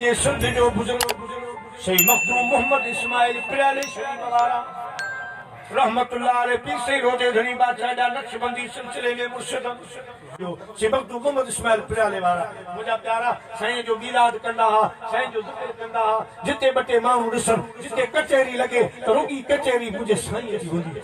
جي سنڌ جو بزرگ سيد مخدوم محمد اسماعيل پريالي شريف وارا رحمة الله عليه پير سيد روضي ڌڻي بادشاهه جا نقشبندي سلسلي جي مرشد جو سيد مخدوم محمد اسماعيل پريالي وارا منهنجا پيارا سائين جو ميلاد ڪندا ها سائين جو ذڪر ڪندا ها جتي ٻه ٽي ماڻهو ڏسن جتي ڪچهري لڳي ته رڳي ڪچهري منهنجي سائين جي هوندي هئي.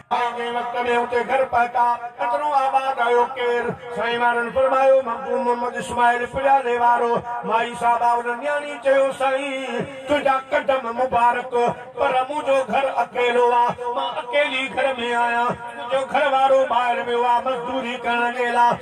آء جنهن وقت ۾ اتي گهر پهتا، قدرون آباد آيو ڪير؟ سائين وارن فرمايو، مخدوم محمد اسماعيل پڄالي وارو. مائي صاحبه ان نياڻي چيو، سائين تنهنجا قدم مبارڪ، پر مون جو گهر اڪيلو آ، مان اڪيلي گهر ۾ آهيان، منهنجو گهر وارو ٻاهر ويو آ مزدوري ڪرڻ جي لاء،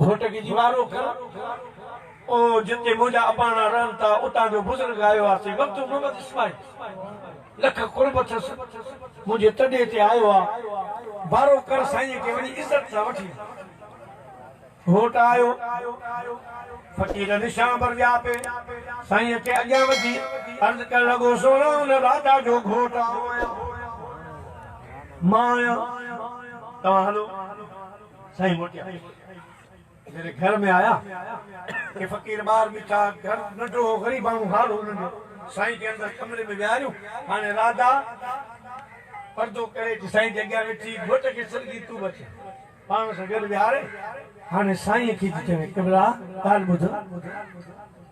گهوٽ کي جي وارو ڪر او جتي منهنجا اباڻا رهن ٿا اتان جو بزرگ آيو آ سي مڪتوب محمد اسماعيل لک قرب اٿس منهنجي تڏي تي آيو آ وارو ڪر سائين کي وڃي عزت سان وٺي اچ گهوٽ آيو فقير نشان پر ويا پي سائين کي اڳيان وڌي عرض ڪرڻ لڳو سهڻا ان راجا جو گهوٽ آئون آهيان مان آهيان توهان هلو سائين موٽيا جڏهن گهر ۾ آيا ته فقير ٻار ٻيٺا، گهر ننڍڙو هو، غريباڻو هال هو ننڍڙو، سائين کي اندر ڪمري ۾ ويهاريون، هاڻي راڌا پردو ڪري اچي سائين جي اڳيان ويٺي، گهوٽ کي سرگي تون به اچ پاڻ سان گڏ ويهاري، هاڻي سائين کي ٿي چوي قبلا ڳالهه ٻڌ،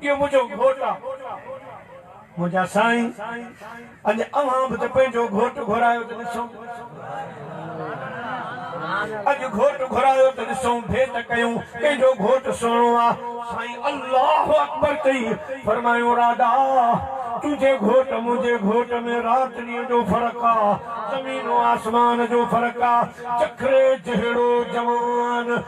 اهو منهنجو گهوٽ آ. منهنجا سائين اڄ اوهان به ته پنهنجو گهوٽ گهرايو ته ڏسون. اڄ گهوٽ گهرايو ته ڏسون ڀيٽ ڪيون ڪنهن جو گهوٽ سهڻو آ. سائين الله اڪبر چئي فرمايون راڌا تنهنجي گهوٽ منهنجي گهوٽ ۾ رات ڏينهن جو فرق آ زمين و آسمان جو فرق آ جکري جهڙو جوان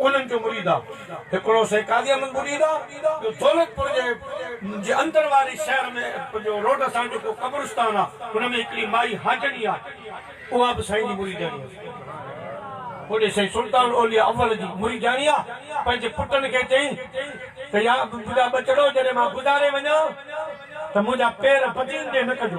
انهن جو مريد آ. هڪڙو سائين قاضي احمد مريد آ، ٻيو دولت پور جي جي اندر واري شهر ۾ پنهنجو روڊ سان جيڪو قبرستان آ، ان ۾ هڪڙي مائي حاجڻي آ، اها به سائين جي مريدڻي هئي. هوڏي سائين سلطان اولياء اول جي مريدڻي آ، پنهنجي پٽن کي چئين ته يا منهنجا ٻچڙو جڏهن مان گذاري وڃان ته منهنجا پير بدين ڏي نه ڪجو.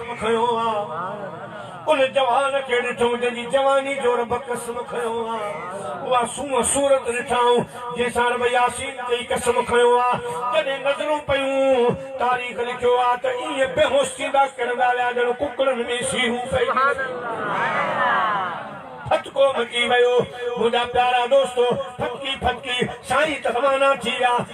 قسم کنيو آ ان جوان کي ڏٺم جنهن جي جواني جو رب قسم کنيو آ اها سونهن صورت ڏٺائون جنهن سان رب ياسين چئي قسم کنيو آ جڏهن نظرون پيون تاريخ لکيو آ ته ائين بيهوش ٿيندا ڪرندا ويا ڄڻ ڪڪڙن ۾ سيرون پئجي ويون ڦٿڪو مچي ويو منهنجا پيارا دوستو ڦٿڪي ڦٿڪي سائين ته روانا ٿي ويا.